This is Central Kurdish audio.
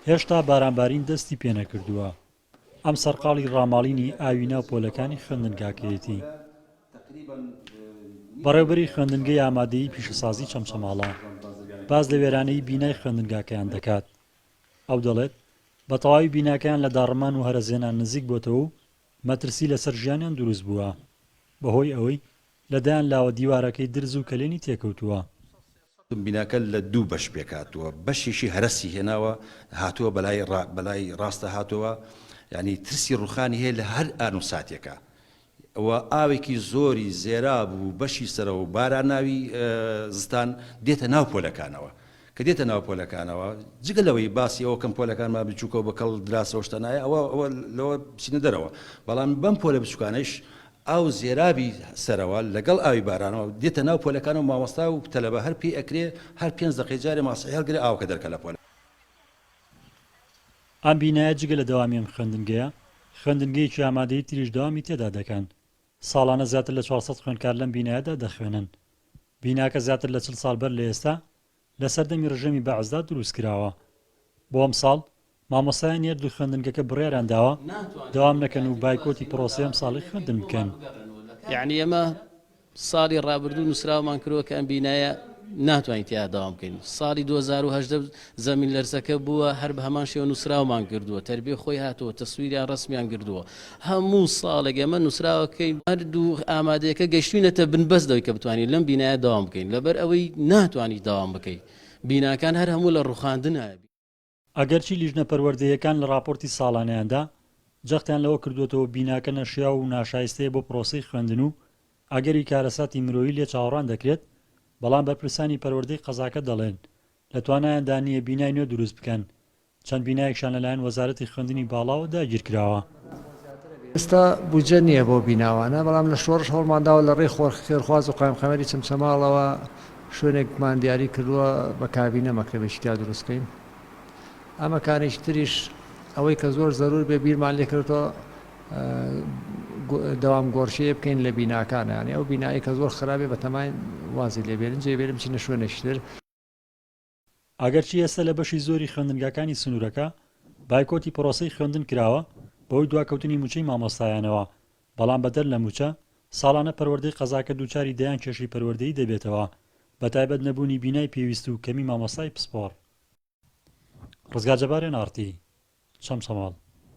هێشتا بارانبارین دەستی پێنەکردووە ئەم سەرقاڵی ڕاماڵینی ئاوی ناو پۆلەکانی خوێندنگاکەیەتی بەڕێوبەری خوێندنگەی ئامادەی پیشەسازی چەمچەماڵە باز لە وێرانەی بینای خوێندنگاکەیان دەکات ئەو دەڵێت بە تەواوی بیناکەیان لە داڕمان و هەرەزێنان نزیک بۆتەوە و مەترسی لەسەر ژیانیان دروست بووە بەهۆی ئەوەی لە دەیان لاوە دیوارەکەی درز و کەلێنی تێکەوتووە. بیناکە لە دوو بەش پێکهاتووە، بەشێکی هەرەسی هێناوە هاتووە بەلای ڕا بەلای ڕاستە هاتووە یانی ترسی ڕووخانی هەیە لە هەر ئان و ساتێکا و ئاوێکی زۆری زێراب و بەشی سەرەوە باراناوی زستان دێتە ناو پۆلەکانەوە کە دێتە ناو پۆلەکانەوە، جگە لەوەی باسی ئەوە بکەم پۆلەکانمان بچووکە و بە کەڵ دراوسێ و شتە نایە، ئەوە ئەوە لەوە بچینە دەرەوە، بەڵام بەم پۆلە بچووکانەیش ئاو زێرابی سەرەوە لەگەڵ ئاوی بارانەوە دێتە ناو پۆلەکانەوە و مامۆستا و تەلەبە هەر پێی ئەکرێ هەر پێنج دەقەی جارێ ماسحی هەڵگرێ ئاوەکە دەرکا لە پۆلە. ئەم بینایە جگە لە دەوامی ئەم خوێندنگەیە، خوێندنگەیەکی ئامادەی تریش دەوامی تێدا دەکەن. ساڵانە زیاتر لە چوار سەد خوێندکار لەم بینایەدا دەخوێنن. بیناکە زیاتر لە چل ساڵ بەر لە ئێستا لە سەردەمی ڕژێمی بەعسدا دروستکراوە. بۆ ئەمساڵ، مامۆستایانی ئەر دوو خوێندنگەکە بڕیاریان داوە دەوام نەکەن و بایکۆتی پڕۆسەی ئەمساڵی خوێندن بکەن. یەعنی ئێمە ساڵی ڕابردوو نووسراوەمان کردووە کە ئەم بینایە ناتوانین تیایا دەوام بکەین. ساڵی دوو هەزار و هەژدە زەمین لەرزەکە بووە هەر بەهەمان شێوە نوسراومان گردووە تەربیە خۆی هاتووە تەسویریان رەسمیان گردووە هەموو ساڵێک ئێمە نوسراوەکەی هەردوو ئامادەیەکە گەشتوینەتە بن بەس لەوەی کە بتوانین لەم بینایە دەوام بکەین لەبەر ئەوەی ناتوانی دەوام بکەی بیناکان هەر هەموو لە روخاندنە. ئەگەرچی لیژنە پەروەردەییەکان لە راپۆرتی ساڵانەیاندا جەختیان لەوە کردووەتەوە بیناکە نەشیاو و ناشایستەیە بۆ پرۆسەی خوێندن و ئەگەری کارەساتی مرۆیی لێ چاوەڕان دەکرێت بەڵام بەرپرسانی پەروەردەی قەزاکە دەڵێن لە توانایاندا نییە بینای نوێ دروست بکەن، چەند بینایەکشان لەلایەن وەزارەتی خوێندنی باڵاوە داگیر کراوە. ئێستا بودجە نییە بەو بیناوانە، بەڵام لە شۆڕش هەوڵمان داوە لە ڕێی خێرخواز و قایمقامیەتی چەمچەماڵەوە شوێنێکمان دیاری کردووە بە کابینە مەکتەبێکی تیا دروست بکەین. ئەمەکانیش تریش ئەوەی کە زۆر زەروور بێ بیرمان لێ کردۆتەوە دەوام گۆڕشەیە بکەین لە بیناکانە یانی ئەو بینایی کە زۆر خراپێ بە تەمای وازی لێبێنن جێ بێنم چینە شوێنێکتر ئەگەرچی ئێستا لە بەشی زۆری خوێندنگاکانی سنوورەکە بایکۆتی پرۆسەی خوێندن کراوە بەهۆی دواکەوتنی مووچەی مامۆستایانەوە، بەڵام بەدەر لە مووچە، ساڵانە پەروەردەی قەزاکە دووچاری دەیان کێشەی پەروەردەیی دەبێتەوە، بەتایبەت نەبوونی بینای پێویست و کەمی مامۆستای پسپۆڕ. ڕزگار جەبار، ئێن ئاڕ تی، چەمچەماڵ.